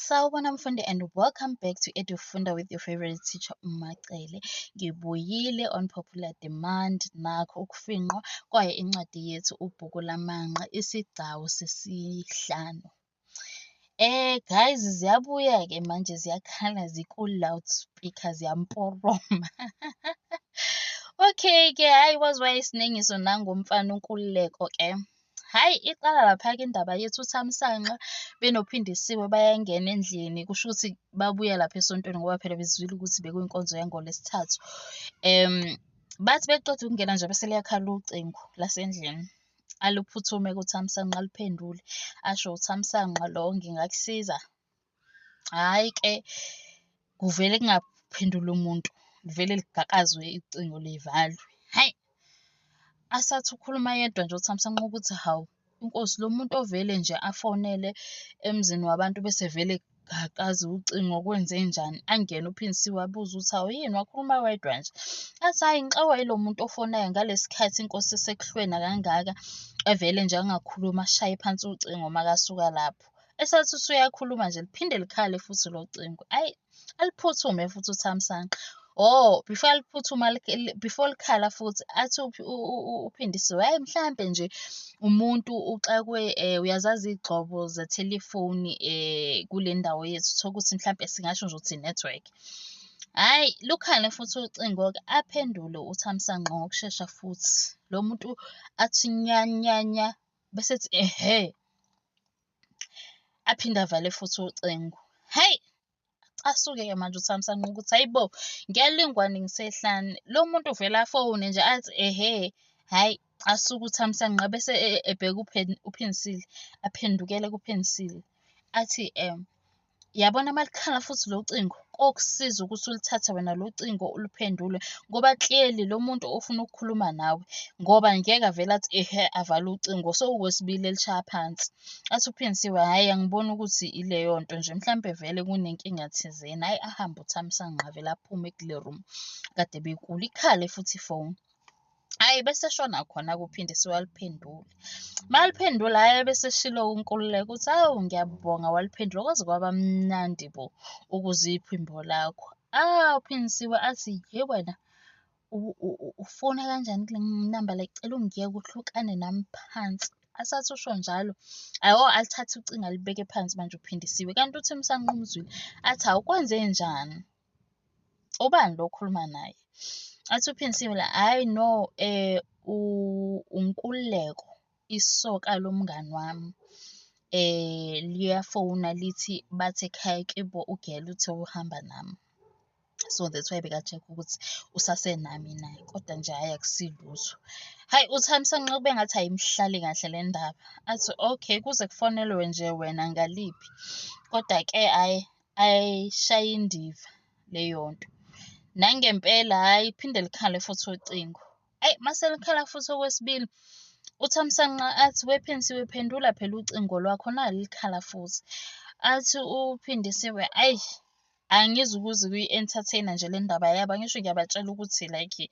Sawubona mfundi and welcome back to Edufunda with your favorite teacher uMacele. Ngibuyile on popular demand nakho ukufinqwa kwaye incwadi yethu ubhuku lamanqa isigcawu sesihlanu. Eh guys ziyabuya ke manje ziyakhala ziku loudspeaker ziyamporoma. okay ke hayi wazi wayesiningiso nangomfana unkululeko ke. Hhayi iqala lapha-ke indaba yethu uThamsanqa benoPhindisiwe bayangena endlini kusho ukuthi babuya lapha esontweni ngoba phela bezwile ukuthi bekuyinkonzo yangoLwesithathu. Um bathi beqeda ukungena nje bese liyakhala ucingo lasendlini aluphuthume kuThamsanqa aliphendule asho uThamsanqa lo ngingakusiza Hhayi ke kuvele kungaphenduli umuntu livele ligakazwe icingo livalwe. Hhayi asathi ukhuluma yedwa nje uThamsanqa nqoba ukuthi hawu inkosi lo muntu ovele nje afonele emzini wabantu bese vele akazi ucingo kwenze njani angene uPhindisiwe abuze ukuthi hawu yini wakhuluma wedwa nje athi hhayi ngixakwa yilo muntu ofonayo ngalesi khathi inkosi isekuhlwena kangaka evele nje angakhulumi ashaye phansi ucingo makasuka lapho. esathi usuyakhuluma nje liphinde likhale futhi lo cingo ayi aliphuthume futhi uthamsanqa oh before aliphuthuma before likhala futhi athi uphindisiwe hayi mhlampe nje umuntu uxakwe eh, uyazazi igxobo zethelefoni eh, kule ndawo yethu thola ukuthi mhlampe singasho nje ukuthi network hayi lukhale futhi ucingo ke aphendule uthamsanqa ngokushesha futhi lo muntu athi nyanyanya bese ethi ehe aphinde avale futhi ucingo hhayi asuke-ke manje uthamisa nqo ukuthi hhayi bo ngiyalingwane ngisehlane lo muntu uvele afowune nje athi ehe hhayi asuke uthamisa nqa bese e, e, ebheka uphinisile aphendukele kuphinisile athi um Yabona uma likhala futhi lo cingo, kokusiza ukuthi ulithathe wena lo cingo uluphendule ngoba clearly lo muntu ofuna ukukhuluma nawe ngoba ngeke avele athi ehe avale ucingo sowukwesibili elishaya phansi. Athi uPhinsiwe hhayi angiboni ukuthi ileyo nto nje mhlampe vele kunenkinga thizeni, hhayi ahambe uThamsanqa avele aphume kule room kade bekulo, ikhale futhi ifoni. hayi bese shona khona kuphinde siwaliphendule maliphendula hayi bese shilo unkululeko ukuthi awu ngiyabonga waliphendula kwaze kwaba mnandi bo ukuze iphimbo lakho ah uphindisiwe athi ye wena ufona kanjani kule namba le cela ungiyeke uhlukane nami phansi asathi usho njalo ayo alithathe ucingo alibeke phansi manje uphindisiwe kanti uthi umsanqumuzwile athi awukwenze njani ubani lo okhuluma naye athi uPhinsile la hayi no eh unkululeko isoka lomngani wami eh liyafona lithi bathi ekhaya kibo ugela uthe uhamba nami so that's why beka-check ukuthi usasenami na kodwa nje hhayi akusilutho hhayi uthamisa nxa kube ngathi ayimhlali kahle le ndaba athi okay kuze kufonelwe nje wena ngaliphi kodwa-ke hhayi ayishaye indiva leyo nto nangempela hhayi phinde likhale futhi ucingo ayi mase likhala futhi okwesibili uthamsanqa athi wephensi wephendula phela ucingo lwakho nali likhala futhi athi uphindisiwe ayi angizi ukuze kuyi-entertainer nje le ndaba yabo angisho ngiyabatshela ukuthi like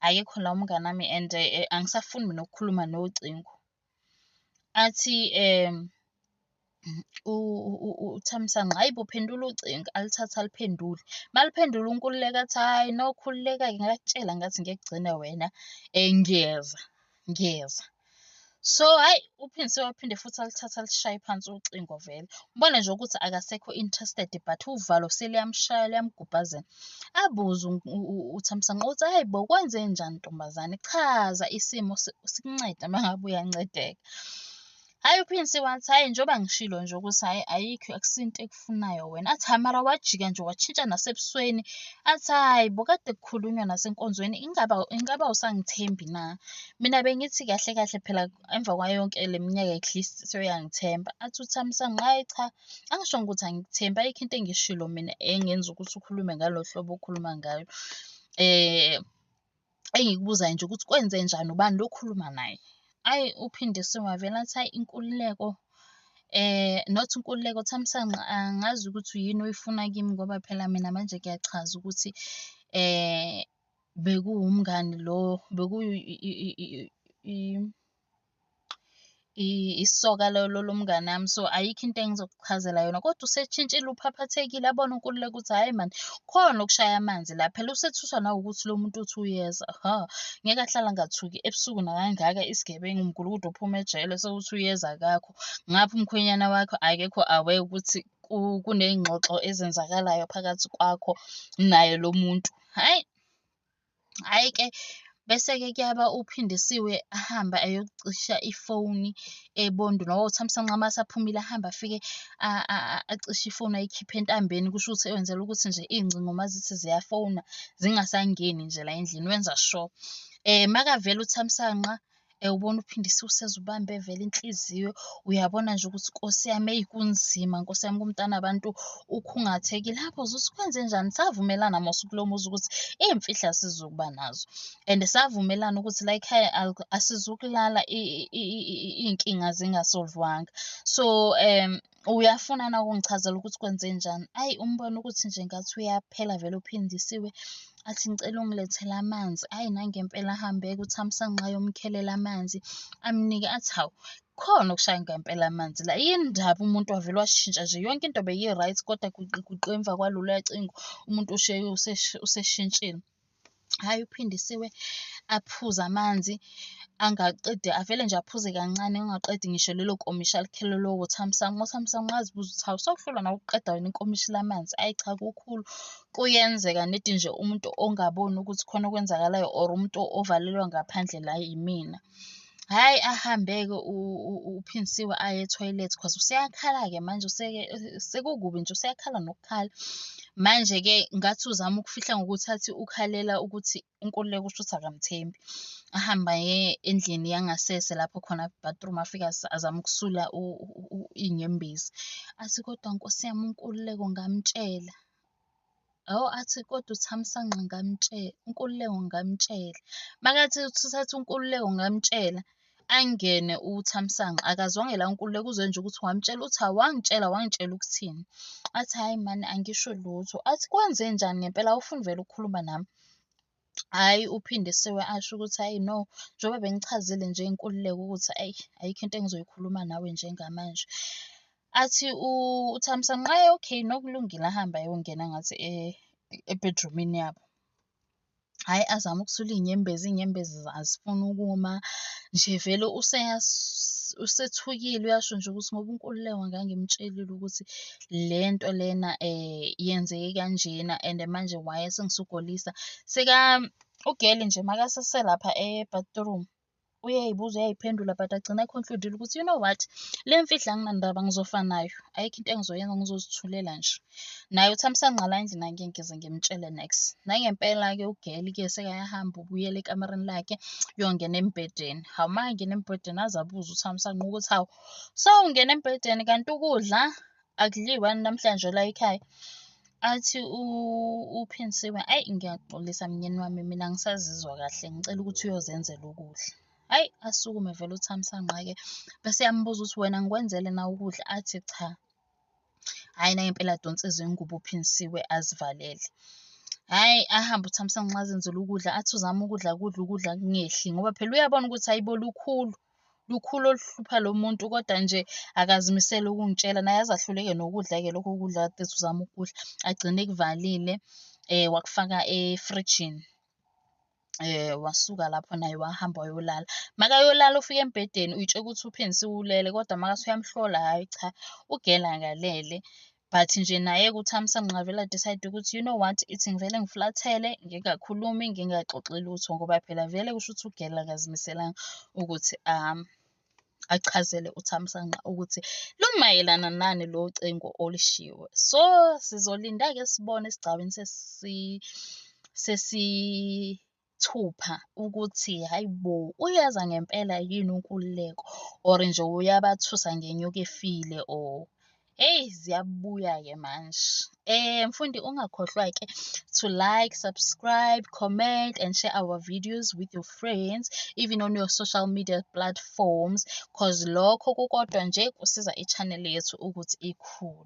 akekho la umngane wami and eh, angisafuni mina ukukhuluma nocingo athi um uThamsanqa hayi bo phendula ucingo alithathe aliphendule maliphendula unkululeka athi hhayi no khululeka-ke ngakutshela ngathi ngekugcina wena um ngiyeza ngiyeza so hhayi uphindise waphinde futhi alithathe alishaye phansi ucingo vele ubone nje ukuthi akasekho interested but uvalo seliyamshaya liyamgubhazela Abuze uThamsanqa ukuthi hhayi bo kwenzenjani ntombazane, chaza isimo sikuncede uma ngabe uyancedeka. Hhayi uPrince wathi hhayi njengoba ngishilo nje ukuthi hhayi ayikho akusiyo into ekufunayo wena. Athi hhayi mara wajika nje washintsha nasebusweni. Athi hhayi bo kade kukhulunywa nasenkonzweni ingaba ingaba awusangithembi na? Mina bengithi kahle kahle phela emva kwayo yonke le minyaka at least sewuyangithemba. Athi uThamsanqa hhayi cha Angisho ukuthi angikuthembi, ayikho into engishilo mina engenza ukuthi ukhulume ngalo hlobo okhuluma ngayo. Engikubuzayo nje ukuthi kwenzenjani, ubani lo okhuluma naye? Ayi uPhindisiwe wavele athi, hhayi inkululeko not inkululeko, Thamsanqa angazi ukuthi yini oyifuna kimi ngoba phela mina manje kuyachaza ukuthi bekuwumngani lo, bekuwu . isoka lomngani wami so ayikho into engizokuchazela yona kodwa useshintshile uphaphathekile abone uNkululeko ukuthi hhayi mani khona okushaya amanzi la phela usethuswa nawukuthi lo muntu uthi uyeza hha ngeke ahlale angathuki ebusuku nakangaka isigebengu umgulukudu ophuma ejele sewuthi uyeza kakho ngapha umkhwenyana wakho akekho awe ukuthi kuney'ngxoxo ezenzakalayo phakathi kwakho naye lo muntu hhayi. Hhayi ke, bese-ke kuyaba uPhindisiwe ahambe ayocisha ifoni eBondweni. Ngoba uThamsanqa uma esaphumile ahambe afike acishe ifoni ayikhiphe entambeni. Kusho ukuthi wenzela ukuthi nje iy'ngcingo uma zithi ziyafona zingasangeni nje la endlini, wenza sho. Makavela uThamsanqa Ewubona uphindisa useze ubambe vele inhliziyo uyabona nje ukuthi nkosi yami eyi kunzima nkosi yami kumntana abantu ukhungathekile lapho uzuthi kwenze njani savumelana mose kulo muzi ukuthi iy'mfihlo asizukuba nazo and savumelana ukuthi la ekhaya asizukulala iy'nkinga zingasolvwanga so um uyafuna na ukungichazela ukuthi kwenze njani ayi umbona ukuthi nje ngathi uyaphela vele uphindisiwe athi ngicela ungilethele amanzi ayi nangempela ahambe kuthamsanqa yomkhelela amanzi amnike athi hawu khona okushaya ngempela amanzi la yini ndaba umuntu wavele washintsha nje yonke into beyi-right kodwa kuqe emva kwalolu yacingo umuntu usheye useshintshile Hhayi uPhindisiwe aphuze amanzi angaqedi avele nje aphuze kancane ungaqedi ngisho lelo nkomishi alikhele lowo thamsanqa. Uthamsanqa ungazibuza ukuthi hawu sokuhlolwa nawe ukuqeda wena inkomishi lamanzi. Ayi cha kukhulu kuyenzeka nedi nje umuntu ongaboni ukuthi khona okwenzakalayo or umuntu ovalelwa ngaphandle la yimina. Hhayi ahambe-ke uPhindisiwe aye ethoyilethi cause useyakhala-ke manje sekukubi nje useyakhala nokukhala. Manje-ke ngathi uzama ukufihla ngokuthi athi ukhalela ukuthi uNkululeko kusho ukuthi akamthembi. Ahambe aye endlini yangasese lapho khona ku-bathroom afike azame ukusula iy'nyembezi. Athi kodwa Nkosi yami uNkululeko ngamtshela. Hawu athi kodwa uThamsanqa ngamtshela, uNkululeko ngamtshela. Makathi uthatha uNkululeko ngamtshela, angene uThamsanqa akazwanga la uNkululeko uzwe nje ukuthi wamtshela uthi awangitshela wangitshela ukuthini. Athi hhayi mani angisho lutho. Athi kwenzenjani ngempela awufuni vele ukukhuluma nami? Hhayi uPhindisiwe asho ukuthi hhayi no, njengoba bengichazile nje inkululeko ukuthi ayi ayikho into engizoyikhuluma nawe njengamanje. Athi uThamsanqa hhayi okay no kulungile ahambe ayongena ngathi ebhedrumini yabo. Hhayi azame ukusula iy'nyembezi, iy'nyembezi azifuni ukuma nje vele usethukile uyasho nje ukuthi ngoba uNkululeko ngangimtshelile ukuthi le nto lena yenzeke kanjena and manje why esengisugolisa. Seka u-girl nje makaseselapha e-bathroom uyayibuza uyayiphendula but agcina ekhonkludile ukuthi you know what le mfihla anginandaba ngizofa nayo ayikho into engizoyenza ngizozithulela nje naye uthi amsangqala endlini angeke ngize ngimtshele next nangempela-ke ugeli ke sekayahamba ubuyela ekamereni lakhe uyongena embhedeni hawu uma angena embhedeni aze abuze uthi amsanqa ukuthi hawu so ungena embhedeni kanti ukudla akudliwa namhlanje la ekhaya athi uphinsiwe ayi ngiyaxolisa mnyeni wami mina ngisazizwa kahle ngicela ukuthi uyozenzela ukudla hayi asukume vele uthamsanqa-ke bese yambuza ukuthi wena ngikwenzele na ukudla athi cha hhayi nangempela adonse izingubo uphinsiwe azivalele hhayi ahambe uthamsanqa azenzela ukudla athi uzama ukudla kudla ukudla kungehli ngoba phela uyabona ukuthi hayibo lukhulu lukhulu oluhlupha lo muntu kodwa nje akazimisele ukungitshela naye azahluleke nokudla-ke lokho kudla kade uzama ukudla agcine kuvalile um wakufaka efrijini eh wasuka lapho naye wahamba wayolala makayolala ufike embhedeni uyitshela ukuthi uPheni siwulele kodwa makase uyamhlola hayi cha ugela ngalele But nje naye kuThamsa Mnqavela decide ukuthi you know what ithi ngivele ngiflathele ngingakhulumi ngingaxoxi lutho ngoba phela vele kusho ukuthi ugela akazimiselanga ukuthi um achazele uThamsanqa ukuthi lumayelana nani lo cingo olishiwe so sizolinda-ke sibone esigcawini sesi sesi Thupha ukuthi hhayi bo uyaza ngempela yini unkululeko or nje uyabathusa ngenyuka efile or Eyi ziyabuya-ke manje. Eh mfundi ungakhohlwa-ke to like, subscribe, comment and share our videos with your friends even on your social media platforms cause lokho kukodwa nje kusiza i-channel yethu ukuthi ikhule.